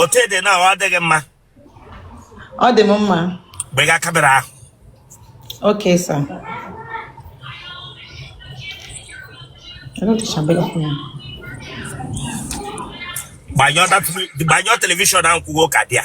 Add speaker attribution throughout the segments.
Speaker 1: otu ede na ọ adịghị mma
Speaker 2: ọ dị m mma gbega kamera ahụ okay
Speaker 1: sir gbanyụọ telivishọn ahụ ọkụ ọ ka dị ya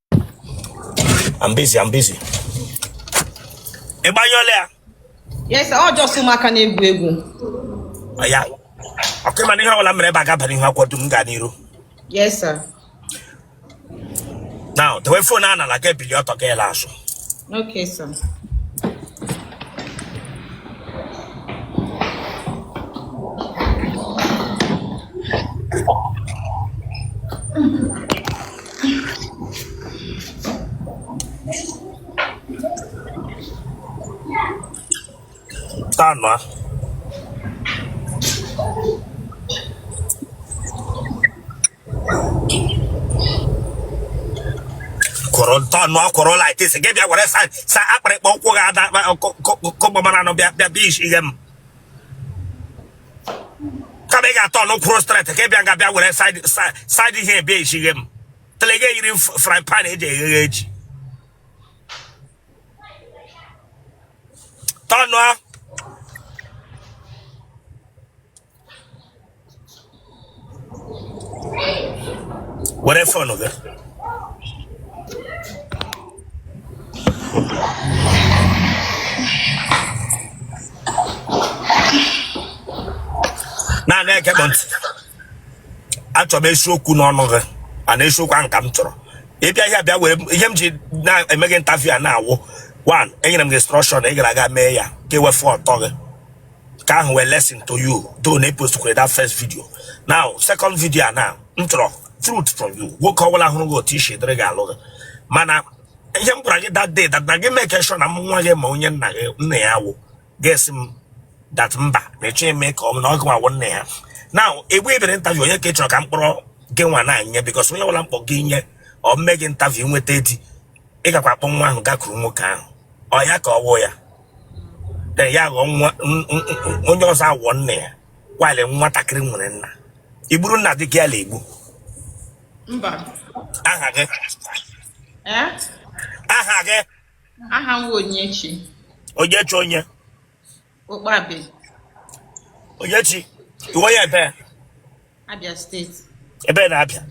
Speaker 1: I'm busy, I'm busy. Ịgbanyụọla ya? Yes sir,
Speaker 2: ọ just ụmụaka na-egwu egwu. Ya,
Speaker 1: okay ị ma na ihe ọbụla mere ebe a ga-abara ihu akwado m gaa n'iru. Yes, sir. Now, dewe phone a n'ala ga ebili ọtọ ga ala azụ. Okay, sir. Tọnụa kwụrụ tọnụa kwụrụ like this gị bịa were side side akpịrịkpọ ụkwụ gị ada kọgbamara anụ bịa bịa bịa isi ihe m kama ị ga-atọnụ kwụrụ straight ka ị bịa nga bịa were side ihe ebe ejighe m otele gị yiri fry pan eji eghe ji tọnụa were fon gị naanị ekekpọ ntị achọrọ m eziokwu n'ọnụ gị and eziokwu ahụ ka m chọrọ ịbịa ihe abịa were ihe m ji na-eme gị interview a now wụ one enyere m gị instruction ị gara aga mee ya ka ewefụ ọtọ gị ka ọ wụrụ lesson to you do na epostukwere that first video now second video a now m chọrọ truth from you nwoke ọbụla hụrụ gị otu i si dịrị ga-alụ gị mana ihe m gwara gị that day that na gị make sure na m nwa gị ma onye nna gị nna ya wụ gị asị m that mba na eche eme ka ọ na ọ gịnwa wụ nna ya now egbe ebere interview onye ka ị chọrọ ka m kpọrọ gị nwa na nye because onye ọbụla m kpọ gị nye o mee gị interview nweta di ị gakwa akpọ nwa ahụ gakwuru nwoke ahụ ọ ya ka ọ wụ ya ya ghọọ nwa onye ọzọ awụọ nna ya while nwatakịrị nwere nna igburu nna dị gị ala igbo
Speaker 2: mba aha gị eh?
Speaker 1: aha gị aha
Speaker 2: m wụ onyechi onyechi onye okpabe
Speaker 1: onyechi ị wụ onye ebee
Speaker 2: Abia steeti. Ebee na
Speaker 1: Abia.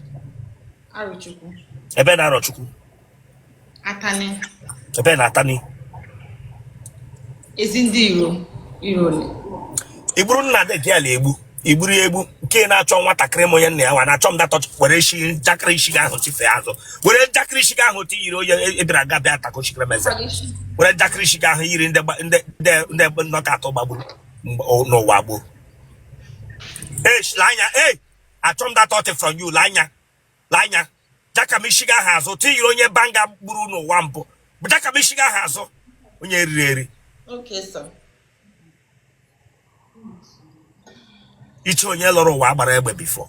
Speaker 2: Arochukwu. Ebee
Speaker 1: na Arochukwu.
Speaker 2: Atani. Ebee na
Speaker 1: Atani. Ezi
Speaker 2: ndị iro iro ole. I
Speaker 1: gburu nna di gị ala egbu i gburu ya egbu nke na-achọ nwatakịrị m onye nna ya nwa na-achọ m datọ were isi njakịrị isi gị ahụ tifee azụ were njakịrị isi gị ahụ tiyiri onye Ebira aga bịa atako chikere meze were njakịrị isi gị ahụ yiri ndị nọka atọ gbagburu n'ụwa gboo Hey, lee anya, hey, achọ m that thought from you, lee anya. Lee anya. Jaka m ishi gị ahụ azụ tiyiri onye banga gburu n'ụwa mbụ. Jaka m ishi gị ahụ azụ onye e riri
Speaker 2: eri. Okay,
Speaker 1: sir. Ishi onye lọrọ ụwa a gbara egbe before.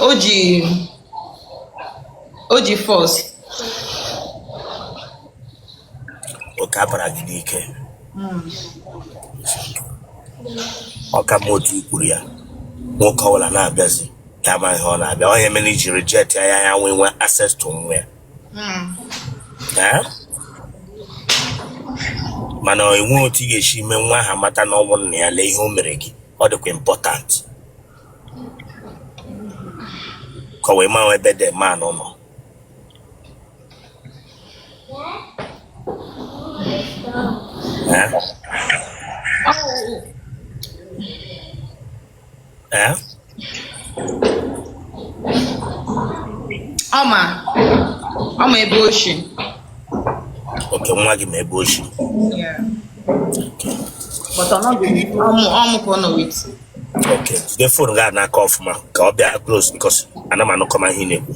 Speaker 2: o ji o ji
Speaker 1: force okay a bara gị n'ike ọ ka m otu i kwuru ya nwoke ọbụla na-abịazi ya ma ihe ọ na-abịa ihe mere i ji reject ya ya ya nwee nwee access to nwa ya Eh? mana e nwe otu ị ga-esi mee nwa ahụ mata na ọ bụ nna ya lee ihe o mere gị ọ dịkwa important ka o wee maa ebe dị ma nọ
Speaker 2: nọ ọ ma ọ ma ebe o
Speaker 1: shi okay nwa gị ma ebe o
Speaker 2: shi ọ mụ ka ọ nọ with Okay.
Speaker 1: Jide fon gị a n'aka ọfụma ka ọ bịa close because ana m anụkọma ihe ị na-ekwu.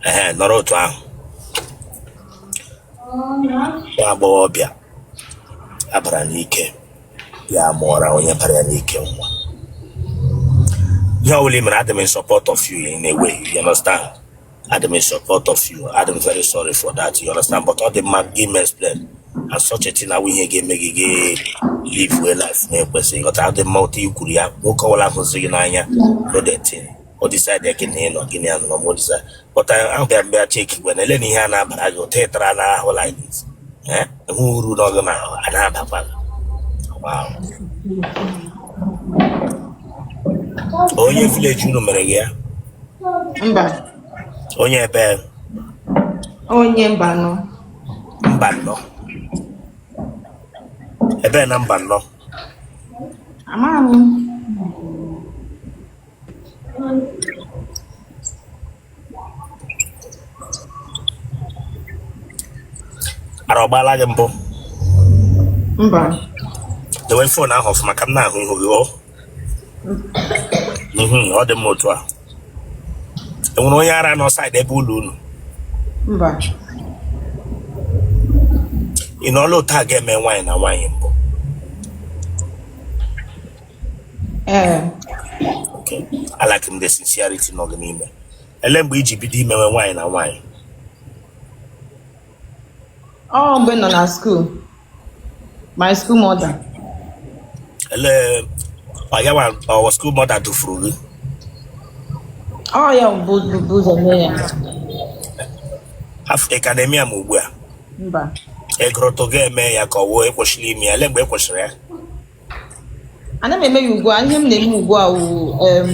Speaker 1: Ehe, nọrọ otu ahụ. Nwa agbọghọbịa a bara n'ike ya mụọra onye bara ya n'ike nwa. Ihe ọ bụla ị mere adị m in support of you in a way, you understand? Adị m in support of you. Adị m very sorry for that. You understand? But all the man gave me explain. And such a thing ọ wụ ihe ga-eme make again live well life na-ekwesịghị ị ghọta adị mma otu i kwuru ya nwoke ọbụla hụzi gị n'anya no the thing o decide gị na ịnọ gị na ya nọ ma o decide but ahụ ga mgbe achek igwe na ele na ihe a na-abara gị ụta ịtara na ahụ like this Eh? hụ uru n'ọgụ na ahụ a na-abakwa gị wow onye village unu mere gị ya
Speaker 2: mba
Speaker 1: onye
Speaker 2: ebe onye Mbano Mbano
Speaker 1: ebe na Mbano
Speaker 2: amaghị
Speaker 1: m ara ọgbala gị mbụ
Speaker 2: mba
Speaker 1: dowe phone ahụ ọfụma ka m na-ahụ ihu gị Mhm, ọ dị mma otu a enwere onye ara nọ side ebe ụlọ unu mba ị nọọla otu a ga-eme nwaanyị na nwaanyị mbụ ee Okay. I like the sincerity nọ gị n'ime ele mgbe i ji bido imewe nwaanyị na nwaanyị
Speaker 2: ọ mgbe m nọ na school my school
Speaker 1: mother ele ọ ya nwa ọ wụ school mother dufuru gị
Speaker 2: ọ ya bu bu- bu ụzọ mee ya
Speaker 1: after ị ka na-eme ya ma ugbu a
Speaker 2: mba egụrụtụ
Speaker 1: ga-eme ya ka ọ wụọ e kwesịrị ime ya ele mgbe e kwesịrị ya
Speaker 2: ana m eme ya ugbu a ihe m na-eme ugbu a wụ em,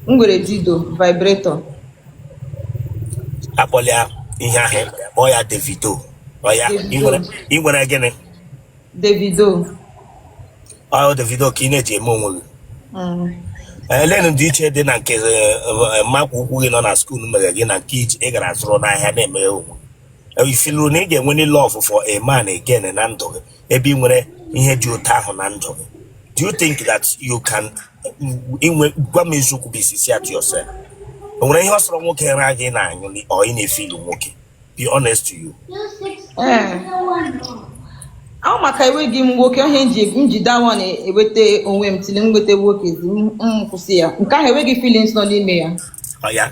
Speaker 2: m nwere dildo
Speaker 1: vibrator akpọla ya ihe ahụ ị mere, kpọọ ya Davido ọ ya ị nwere ị nwere gịnị Davido ọ Davido ka ị na-eji eme onwe gị Mm. elenu ndịiche dị na nke eh, eh, mmakwa ukwu gị nọ na school mere gị na nke i ji- ị gara zụrụ n'ahịa na-eme onwe gị. i feelụrụ na ị ga-enwe love for a man again na ndụ gị ebe ị nwere ihe dị otu ahụ na ndụ gị do you think that you can inwe gwa m eziokwu be sincere to yourself o nwere ihe ọ sọrọ nwoke ra gị ị na-anyụ ọ ị na-efeel nwoke be honest to you
Speaker 2: Ee. Ọ maka enweghị m nwoke ihe m ji njide awa na-eweta onwe m till m nweta nwoke zi m m kwụsị ya nke ahụ enweghị feelings nọ n'ime ya ọ ya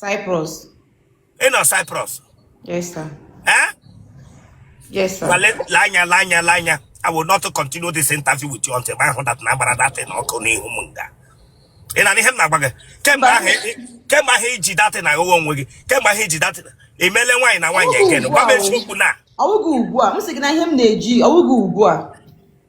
Speaker 2: Cyprus. Ị
Speaker 1: nọ Cyprus? Yes,
Speaker 2: sir. Eh? Yes, sir. Well, lee anya, lee
Speaker 1: anya, lee anya. I will not continue this interview with you until ị weta gbaa that thing ọkụ n'ihu m nga. Ị na-anụ ihe m na-agwa gị? Kemgbe ahụ kemgbe ahụ i ji that thing agụwa onwe gị, kemgbe ahụ i ji that thing emele nwaanyị na nwaanyị again, gwa m eziokwu na. Ọwụghị
Speaker 2: ugbu a, m sị gị na ihe
Speaker 1: m
Speaker 2: na-eji ọwụghị ugbu a.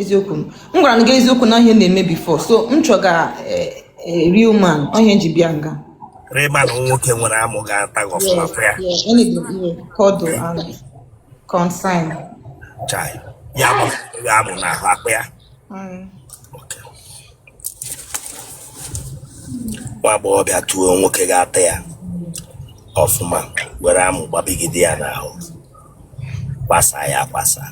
Speaker 2: eziokwu m gwara gị eziokwu na ọ ihe m na-eme before so m chọga eh, eh, real man ọ ihe m ji bịa nga real man
Speaker 1: nwoke nwere amụ ga-ata gị ọfụma fụ ya
Speaker 2: kọdụ ahụ consign
Speaker 1: chai ya bụ ya amụ na ahụ akpa ya Okay. nwa agbọghọ bịa tụọ nwoke ga-ata ya ọfụma were amụ gbabigide ya n'ahụ gbasaa ya agbasa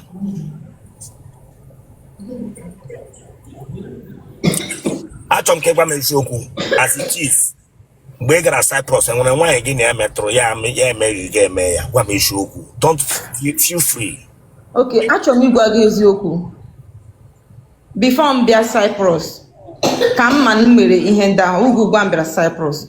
Speaker 1: achọ m ka ị gwa m eziokwu as it is mgbe ị gara Cyprus enwere nwaanyị gị na ya metụrụ ya ame- ya emeghị gị eme ya gwa m eziokwu don't feel feel free ok achọ
Speaker 2: m ịgwa gị eziokwu before m bịa Cyprus ka m ma na m mere ihe ndị ahụ ugbu ugbu a m bịara Cyprus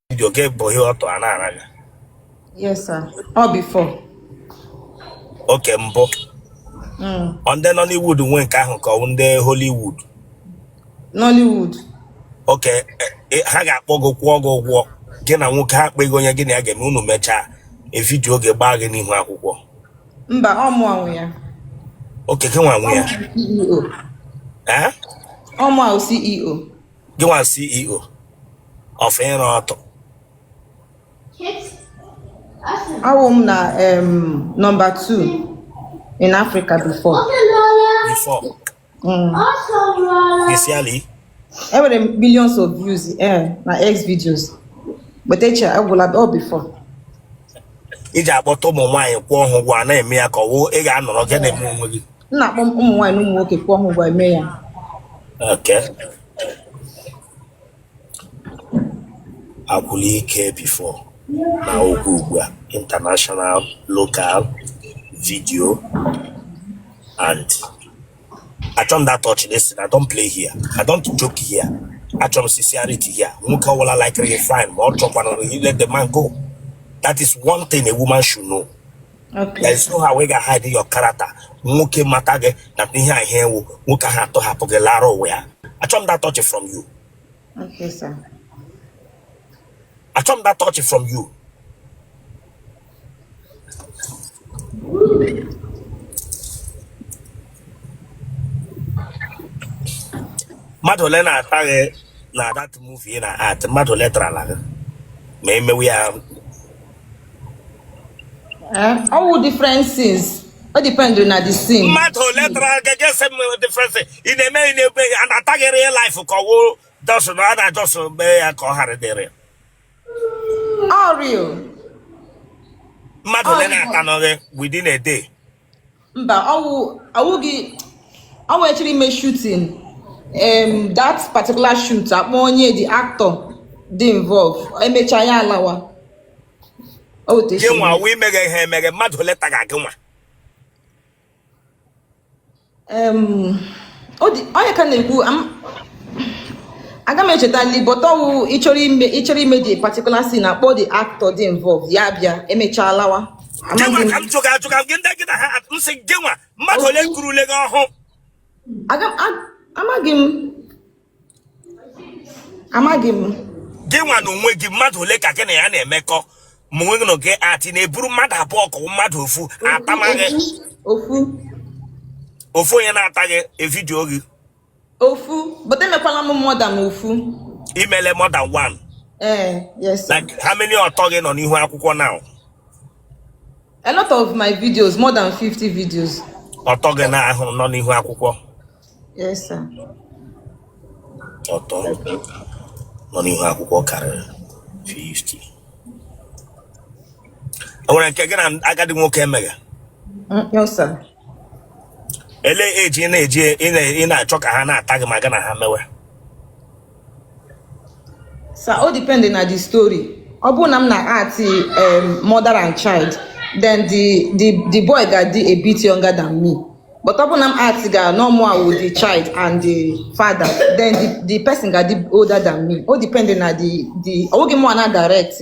Speaker 1: vidio gị gba ọtọ a na-ara gị
Speaker 2: yes sir ọ
Speaker 1: before okay mbụ mm. ọ ndị Nollywood nwe nke ahụ ka ọ ndị Hollywood
Speaker 2: Nollywood okay
Speaker 1: e, e, ha ga-akpọ gị kwụọ gị ụgwọ gị na nwoke ha pick onye gị na ya ga-eme unu mechaa e vidio gị gbaa gị n'ihu akwụkwọ mba ọ
Speaker 2: mụwa nwe ya okay gị
Speaker 1: nwa nwe ya
Speaker 2: ọ mụwa wụ CEO e gị
Speaker 1: nwa CEO of ịra
Speaker 2: ọtụ awụ m na em, number 2 in africa before
Speaker 1: before Mm. initially enwere
Speaker 2: m millions of views eh, na x videos but eche agwụla ọ before
Speaker 1: i ji akpọta ụmụ nwaanyị kwụọ ha ụgwọ a na-eme ya ka ọ wụ ị ga-anọrọ gị na-eme onwe gị m na-akpọ ụmụ nwaanyị
Speaker 2: na ụmụ nwoke kwụọ ha ụgwọ eme ya
Speaker 1: okay agwụla ike before na oge ugbu a international local video and achọ m that touch listen i don't play here i don't joke here achọ m sincerity here nwoke ọwụla likere gị fine ma ọ chọkwanụrụ you let the man go that is one thing a woman should know Okay. there
Speaker 2: is no how ị
Speaker 1: ga hide your character nwoke mata gị na ihe a ihe ị wụ nwoke ahụ atọhapụ gị lara ụwa ya achọ m that touch from you Okay, sir. achọ m that touch from you mmadụ ole na-ata gị na that movie na act mmadụ ole tarala gị ma e mewe ya
Speaker 2: ọ wụ eh, different scenes ọ depend na the scene mmadụ ole tara
Speaker 1: gị gị sị m different scenes ị na-eme ị na-egbe a na-ata gị real life ka ọ wụ dọsụ na a na-adọsụ mgbe ya ka ọ ghara dịrị
Speaker 2: ọ
Speaker 1: real mmadụ ole na-atanụ gị within a day
Speaker 2: mba ọ wụ awụghị ọ wụ echiri ime shooting em that particular shoot a kpọọ onye the actor dị involve e mechaa ya alawa ọ gị techi nwa wee meghe ihe emeghe
Speaker 1: mmadụ ole taga gị nwa
Speaker 2: onye ka na-ekwu aga m echetali but ọ wụ ịchọrọ ime ịchọrọ ime the particular scene a kpọọ the actor dị involved ya bịa e mechaa alawa gịnwa ka
Speaker 1: m jụga ajụghị gị ndị gị na ha m sị gịnwa mmadụ ole kurule gị ọhụ amaghị m
Speaker 2: amaghị m gị
Speaker 1: nwa n'onwe gị mmadụ ole ka gị na ya na-emekọ ma onwe gị na gị act ị na-eburu mmadụ abụọ ka mmadụ ofu atama gị ofu ofu onye na-ata gị na video gị
Speaker 2: ofu but emekwala m more than ofu i meele more
Speaker 1: than
Speaker 2: one eh yes sir. like
Speaker 1: how many ọtọ gị nọ n'ihu akwụkwọ now a
Speaker 2: lot of my videos more than 50 videos ọtọ gị na
Speaker 1: ahụ nọ n'ihu akwụkwọ
Speaker 2: Yes, sir.
Speaker 1: ọtọ nọ n'ihu akwụkwọ karịrị
Speaker 2: 50 o nwere
Speaker 1: nke gị na agadi nwoke emega Mm, No,
Speaker 2: sir.
Speaker 1: ele age ị na-eji ị na- ị na-achọ ka ha na-ata gị ma gị na ha
Speaker 2: mewe Sir, o depend na the story. Ọ bụrụ na m na-act um, mother and child, then the, the, the boy ga-adị a bit younger than me. but ọ bụrụ na m actga na mụwa wụ the child and the father then the, the person ga-adị older than me o depend na the the ọ bụghị mụ na-direct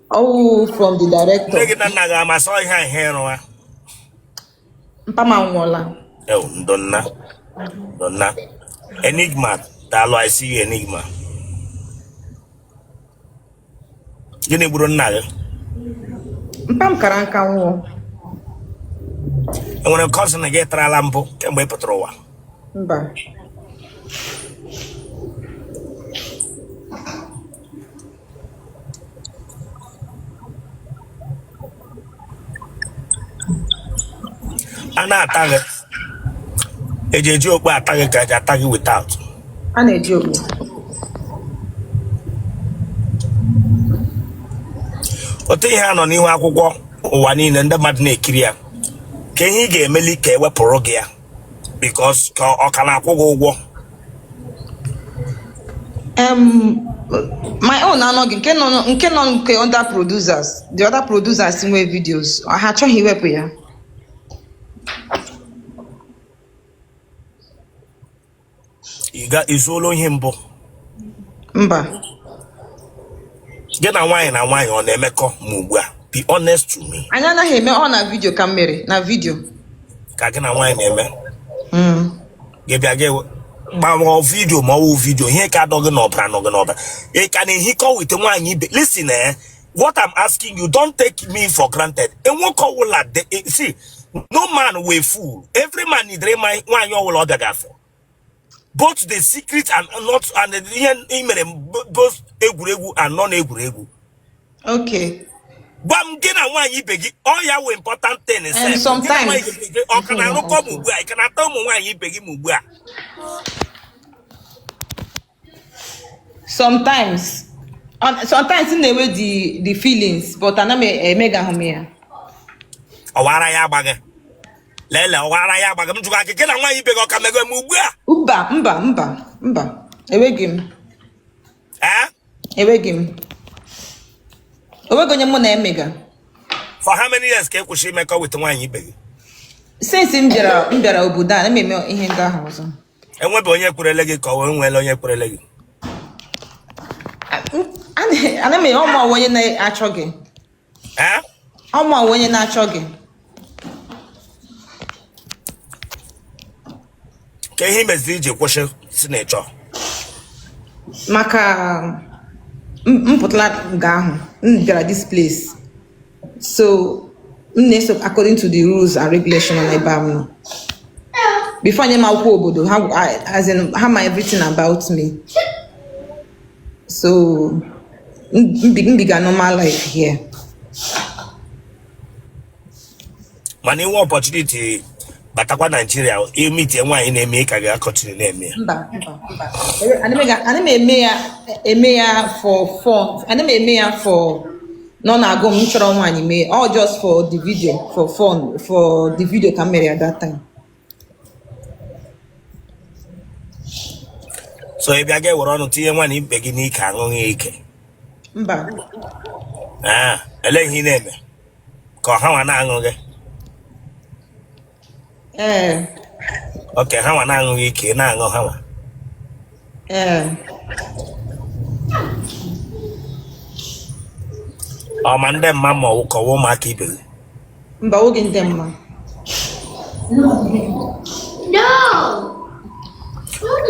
Speaker 2: ọ wụ from the director nne gị na nna gị ama sị ihe a ihe ị rụwa mpa m anwụọla ewu ndo
Speaker 1: nna ndo nna enigma daalụ i see you enigma gịnị gburu nna
Speaker 2: gị mpa m kara nka
Speaker 1: nwụọ e nwere cousin gị tarala mbụ kemgbe ị pụtara ụwa mba a na-ata gị e ji e ji okpu ata gị ka e ji ata gị without a na-eji okpu otu ihe a nọ n'ihu akwụkwọ ụwa niile ndị mmadụ na-ekiri ya kee ihe ị ga-emeli ka e wepụrụ gị ya because ka ọ ka na-akwụ gị ụgwọ Um,
Speaker 2: my own anọghị nke nọ nke nọ nke other producers the other producers nwe videos ha achọghị iwepụ ya
Speaker 1: I zuola ohi mbụ. mba Gị na nwaanyị na nwaanyị ọ na-emekọ ma ugbu a? Be honest to me. anyị anaghị eme ọ na
Speaker 2: vidio ka m mere na vidio Ka gị
Speaker 1: na nwaanyị na-eme. Mm. Gị bịa gị ma ọ wụ vidio ma ọ wụghị vidio ihe ka dọ gị n'ọbara nọ gị n'ọbara. Ị ka na-ehikọ with nwaanyị ibe. Listen eh. what I'm asking you, don't take me for granted. And won't call will at the see, no man wụ fool. Every man need nwaanyị ọwụla ọ bịaga afọ. Both the secret and not and the email both egwuregwu and non
Speaker 2: egwuregwu. Okay.
Speaker 1: Bam gị na nwaanyị ibe gị ọ ya wụ important thing is And
Speaker 2: sometimes ọ ka na-arụkọ
Speaker 1: m ugbu a ị ka na-ata ụmụ nwaanyị ibe gị m ugbu a
Speaker 2: sometimes sometimes m na-enwe the the feelings but ana m emegahụ m
Speaker 1: ya ọwara ya agbaghị lele ọwara ya agbaghị m jụrụ gị gị na nwaanyị ibe gị ọ ka mega m ugbu a mba mba mba
Speaker 2: mba enweghị m enweghị m o nweghị onye mụ na-emega for how
Speaker 1: many years ka ị kwụsị imekọ with nwaanyị ibe gị since
Speaker 2: m bịara m bịara obodo a na m eme ihe ndị ahụ ọzọ enwebe
Speaker 1: onye kwerele gị ka o nweele onye kwerele
Speaker 2: gị ana m ọma onye na-achọ gị ọma onye na-achọ gị
Speaker 1: ka ihe meziri i ji kwụsị si na ịchọ maka
Speaker 2: m pụtara nga ahụ m bịara this place so m na-eso according to the rules and regulation na ebe m nọ before nye m akwụkwọ obodo ha as in ha ma everything about me so m biga normal life here
Speaker 1: mana i nwee opportunity batakwa Nigeria meetie nwaanyị na-eme ị ka ga-continue na-eme ya mba mba mba Ele- ana
Speaker 2: m ega- ana m eme ya eme ya for fun ana m eme ya for na ọ na-agụ m chọrọ nwaanyị mee all just for the video for fun for the video ka m mere ya that time
Speaker 1: so ị bịa ga-ewere ọnụ tinye nwaanyị ibe gị n'ike aṅụ gị ike mba ee ele ihe ị na-eme ka ọ ha nwa na-aṅụ gị ee okay ha nwa na-aṅụ gị ike ị na-aṅụ ha nwa ee ọ ma-adị mma ma ọ wụkwa ụmụaka ibe gị mba ọ gaghị
Speaker 2: adị mma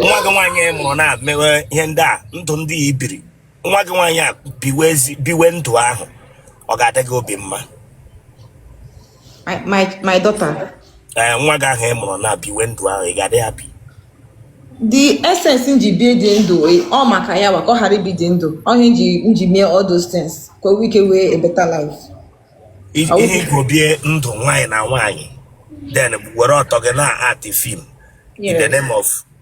Speaker 1: nwa gị nwaanyị ị mụrụ na-emewe ihe ndị a ndụ ndị a i biri nwa gị nwaanyị a biwe ezi biwe ndụ ahụ ọ ga-adị gị obi mma
Speaker 2: My, my, my daughter. Eh, nwa gị
Speaker 1: ahụ ị mụrụ na biwe ndụ ahụ ị ga-adị happy
Speaker 2: the essence m ji bie ụdị ndụ eh, ọ maka ya nwa ka ọ ghara ibi ụdị ndụ ọ ihe m ji m ji mee all those things ka o nwee ike nwee a better
Speaker 1: life ihe i ji bie ndụ nwaanyị na nwaanyị then were ọtọ gị na-act film in the name of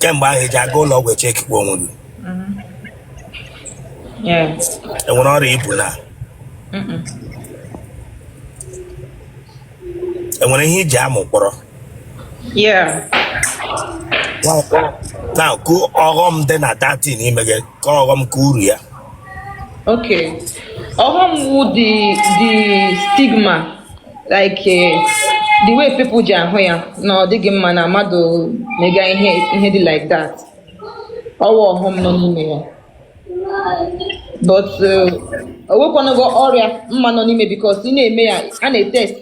Speaker 1: kemgbe ahụ eji aga ụlọ ọgwụ echekikwa onwe gị enwere ọrịa ibu na enwere ihe iji amụ kpọrọ Yeah. na kụ ọghọm dị na that thing i mega ka ọghọm ka uru ya Okay.
Speaker 2: Ọghọm wụ the the stigma like eh, the way people ji ahụ ya na ọ dịghị mma na mmadụ mega ihe ihe dị like that. Ọwụ ọghọm nọ n'ime ya. but uh, onwekwanago ọrịa mma nọ n'ime because ị na-eme ya a na-etest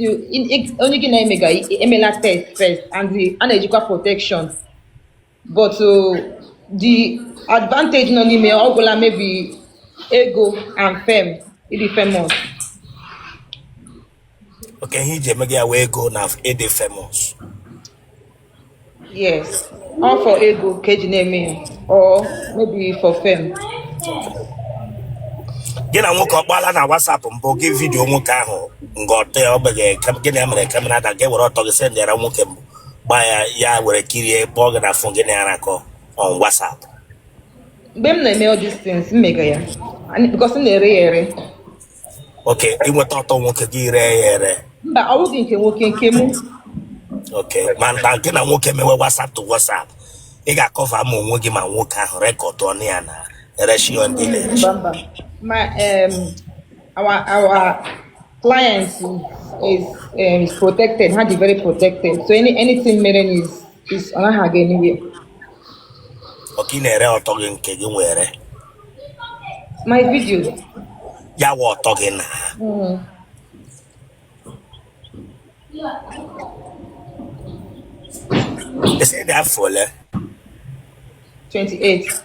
Speaker 2: onye gị na-eme ga emela test first and a na-ejikwa protection but uh, the advantage nọ n'ime ọ gwụla maybe ego and fame ịdị famous
Speaker 1: okay ihe i ji emega ya wụ ego na ịdị
Speaker 2: famous yes ọ for ego ka eji na-eme ya or maybe for fame
Speaker 1: gị na nwoke ọkpala na WhatsApp mbụ gị vidio nwoke ahụ nga ọtọ ya ogbeghị gị na ya mere kamera ada gị were ọtọ gị sendịara nwoke mbụ gba ya ya were kirie kpọọ gị na fon gị na ya na-arakọ on WhatsApp mgbe
Speaker 2: m na-eme all these things m mega ya and- because m na-ere ya ere
Speaker 1: okay i nweta ọtọ nwoke gị ree ya ere mba ọ bụghị
Speaker 2: nke nwoke nke mụ
Speaker 1: okay ma na gị na nwoke mewe WhatsApp to WhatsApp ị ga-akọva ma onwe gị ma nwoke ahụ rekọdụ ọnụ ya na-ereshi ndị na-ereshi mba
Speaker 2: mba ma em, our our client is is, um, is protected ha dị very protected so any anything mere na is is ọ naghị aga anywhere
Speaker 1: okay ị na-ere ọtọ gị nke gị nwere
Speaker 2: My video. Ya
Speaker 1: wụ ọtọ gị na. Mm. Ị sị ị dị afọ ole? 28.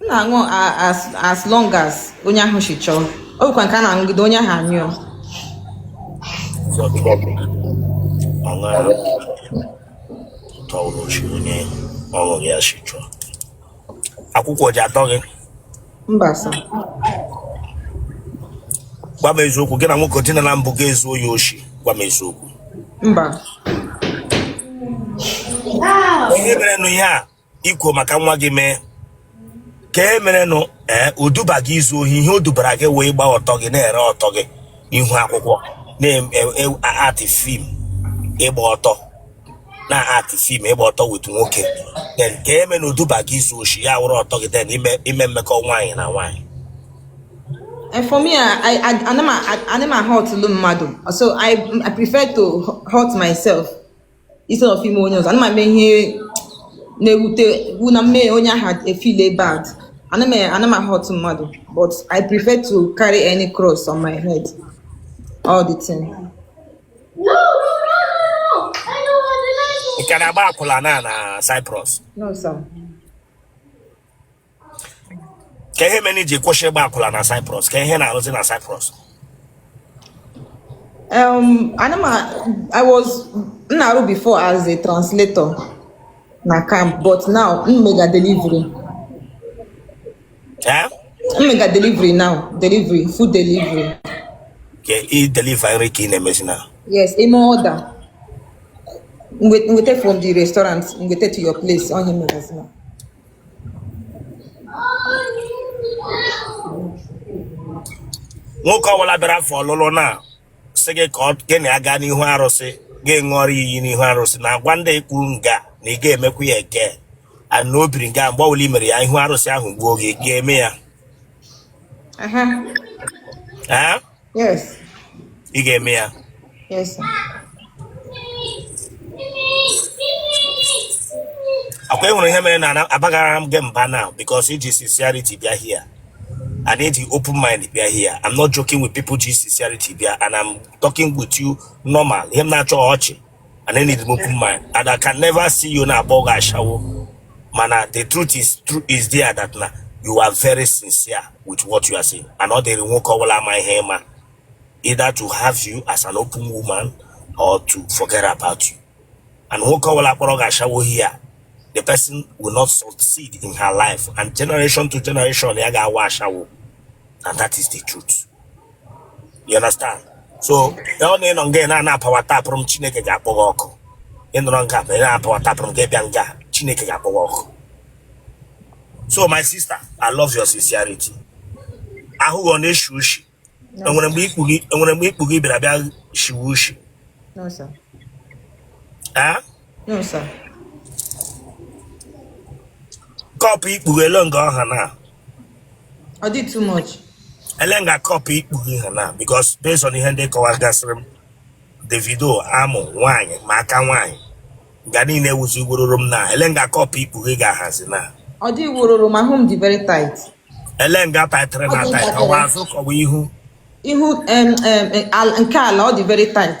Speaker 1: m na-aṅụ a- as as long as onye ahụ si chọọ ọ bụkwa nke a na-aṅụgide onye ahụ anyụọ aṅara tọrọ chi onye ọṅụ ya si chọọ akwụkwọ ji atọ gị mba sir gwa m eziokwu gị na nwoke dinala mbụ gị ezuo ya oshi gwa m eziokwu mba ihe mere nụ ihe a i kwo maka nwa gị mee ka e merenụ ee o duba gị izu ohi ihe o dubara gị wee gba ọtọ gị na-ere ọtọ gị ihu akwụkwọ na-act film ịgba ọtọ na-act film ịgba ọtọ with nwoke then ka e mere na o duba gị izu oshi ya wụrụ ọtọ gị then ime ime mmekọ nwaanyị na nwaanyị
Speaker 2: And for me, I, I, I, I'm a, I, I'm a hurt mmadụ. So I, I prefer to hurt myself. instead of ime onye ọzọ ana m eme ihe na-ewute wụ na m mee onye ahụ e-feel bad ana m ana m a-hurt mmadụ but i prefer to carry any cross on my head all the
Speaker 1: time ị ka na-agba akwụla na na Cyprus no sir kee ihe mere i ji kwụsị ịgba akwụla na Cyprus kee ihe ị na-arụzi na Cyprus
Speaker 2: um, anama I was na-arụ before as a translator na camp but now m mega
Speaker 1: delivery eh? m mega
Speaker 2: delivery now delivery food delivery okay
Speaker 1: ị deliver nri ka ị na-emezi now yes i mee order
Speaker 2: m weta from the restaurant m weta to your place ọ ihe m megazi now
Speaker 1: nwoke ọbụla bịara afọ ọlụlụ na sị gị ka gị na ya gaa n'ihu arụsị gị ṅụọrọ iyi n'ihu arụsị na agwa ndị i kwuru nga na ị ga-emekwa ya again na o biri nga mgbe ọbụla i mere ya ihu arụsị ahụ gbuo gị ị ga-eme ya
Speaker 2: Yes. Ị
Speaker 1: ga-eme
Speaker 2: ya? Yes.
Speaker 1: Akwa e nwere ihe mere na abaghara m gị mba now because i ji sincerity bịa here. And i ji open mind bịa here. I'm not joking with people ji sincerity bịa and I'm talking with you normal. Ihe m na-achọ ọchị. and I need open mind and I can never see you na-akpọ gị ashawo mana the truth is true is there that na you are very sincere with what you are saying and ọ dịrị nwoke ọbụla ama ihe ịma either to have you as an open woman or to forget about you and nwoke ọbụla kpọrọ gị ashawo here the person will not succeed in her life and generation to generation ya ga-awụ ashawo and that is the truth you understand so ọ na ị nọ nga ị na-ana apawa tapụrụ m chineke ga-akpọ gị ọkụ ị nọrọ nga ma ị na-apawa tapụrụ m gị bịa nga chineke ga-akpọ gị ọkụ so my sister i love your sincerity ahụ gị ọ na-eshi ushi enwere mgbe ikpu gị enwere mgbe ikpu gị bịara bịa shiwe
Speaker 2: ushi No,
Speaker 1: sir. ee No, sir. kọpụ ikpu gị elu nga ọha na
Speaker 2: ọ dị too much ele nga
Speaker 1: kọpụ ikpu gị ha na because based on ihe ndị kọwagasịrị m the video amụ nwaanyị ma aka nwaanyị nga niile wuzi wororo m na ele nga kọpụ ikpu gị ga-ahazi na ọ dị wororo
Speaker 2: ma ahụ m dị very tight ele
Speaker 1: nga taịtịrị na Ọ dị taịt ntakịrị. ọ wụ azụ ka ọ wụ ihu ihu em,
Speaker 2: em, em, al- nke ala ọ dị very tight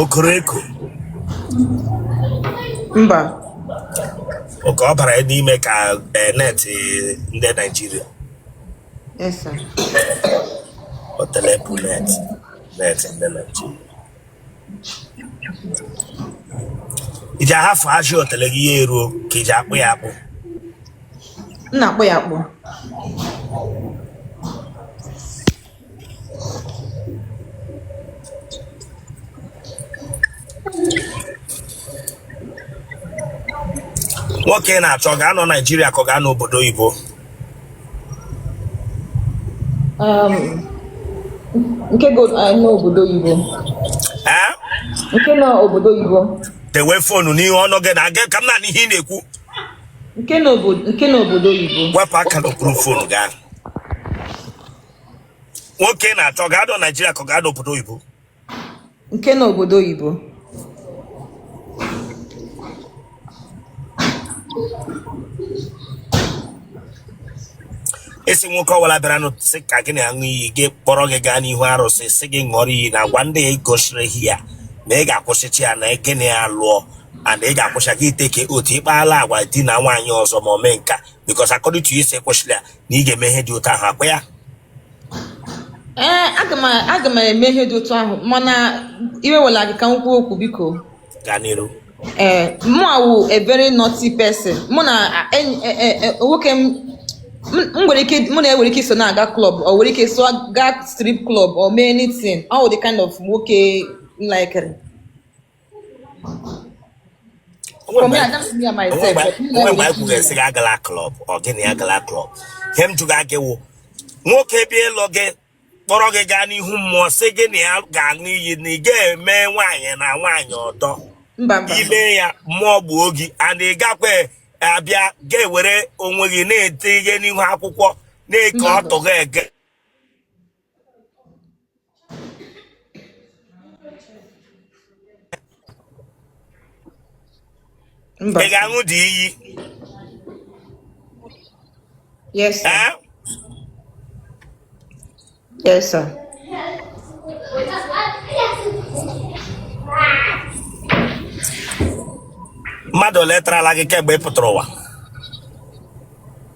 Speaker 1: o koro
Speaker 2: eko
Speaker 1: mba okay ọ bara n'ime ka eh, net eh, ndị naijiria yes
Speaker 2: sir
Speaker 1: otele bụ net net ndị naijiria i ji ahafụ ajị otele gị ya eruo ka i ji akpụ ya akpụ
Speaker 2: m na-akpụ ya akpụ
Speaker 1: nwoke ị na-achọ ọ ga-anọ Naijiria ka ọ ga-anọ obodo oyibo um,
Speaker 2: nke nọ obodo oyibo nke nọ obodo oyibo dewe
Speaker 1: fonu n'ihu ọnụ gị na aga ka m na-anụ ihe ị na-ekwu
Speaker 2: nke nọ obodo oyibo wepụ aka n'okpuru fonu
Speaker 1: gị ahụ nwoke ị na-achọ ọ ga-anọ naijiria ka ọ ga-anọ obodo oyibo
Speaker 2: nke nọ obodo
Speaker 1: oyibo a sị nwoke ọwụla bịara ịlụ gị sị ka gị na ya ṅụọ iyi gị kpọrọ gị gaa n'ihu arụsị sị gị ṅụọrọ iyi na agwa ndị a ị gosiri here na ị ga-akwụsịcha ya na gị na ya lụọ and ị ga-akwụsị gị iteke otu ịkpala agwa idina nwaanyị ọzọ ma o mee nke a because according to you ị sị ị kwụsịrị ya na ị ga-eme ihe dị otu ahụ ọkwa ya ee
Speaker 2: aga m aga m eme ihe dị otu ahụ mana iwe wela gị ka m kwuo okwu biko gaa n'iru
Speaker 1: ee
Speaker 2: mụa wụ a very naughty person mụ na enyi e- e- e- nwoke m m- m nwere ike mụ na ya nwere ike iso na-aga club ọ nwere ike so gaa strip club or mee anything ọ wụ the kind of nwoke m likere For me, I just me and myself. But me onwe like mgbe anyị kwuru a
Speaker 1: sị gị agala klọb ọ gị na ya gala klọb ihe m jụga gị wụ nwoke bịa ịlụ gị kpọrọ gị gaa n'ihu mmụọ sị gị na ya ga-aṅụ iyi na ị ga-eme nwaanyị na nwaanyị ọdọ mba mba i mee ya mmụọ gbuo gị and ị gakwa abịa ga-ewere onwe gị na-ete ihe n'ihu akwụkwọ na-eke Mba. ọtụ gị ege mba ị ga-aṅụ the iyi
Speaker 2: yes sir ee yes
Speaker 1: sir mmadụ ole tarala gị kemgbe ị pụtara ụwa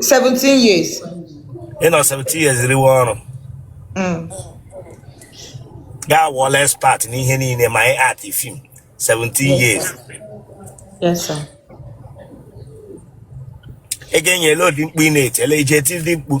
Speaker 2: 17 years. Ị nọ 17
Speaker 1: years riwe ọrụ. Mm. Ga-awụla expert n'ihe niile ma ị act film 17 years. Yes, sir. Ị ga-enyela ụdị mkpu ị na-etele ije tiri mkpu.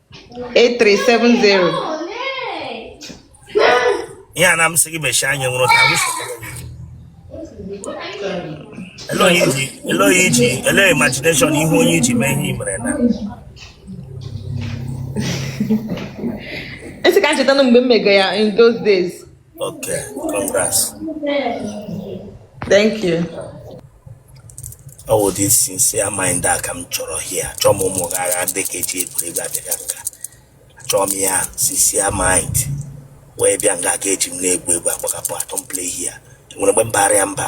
Speaker 1: 8370 ihe a na m sị gị mechie anya nwụrụ ka m ele onye iji ele imagination ihu onye i ji mee ihe i mere
Speaker 2: na esi ka m cheta na mgbe m mego ya in those days
Speaker 1: Okay,
Speaker 2: congrats. Thank you.
Speaker 1: Ọ wụ ụdị sincere mind a ka m chọrọ here chọọ m ụmụaka ahụ ndị nke ji egwuregwu abịaga nga achọọ m ya sincere mind wee bịa nga ka eji m na-egwu egwu agbagapụ I don't play here nwere mgbe m bara ya mba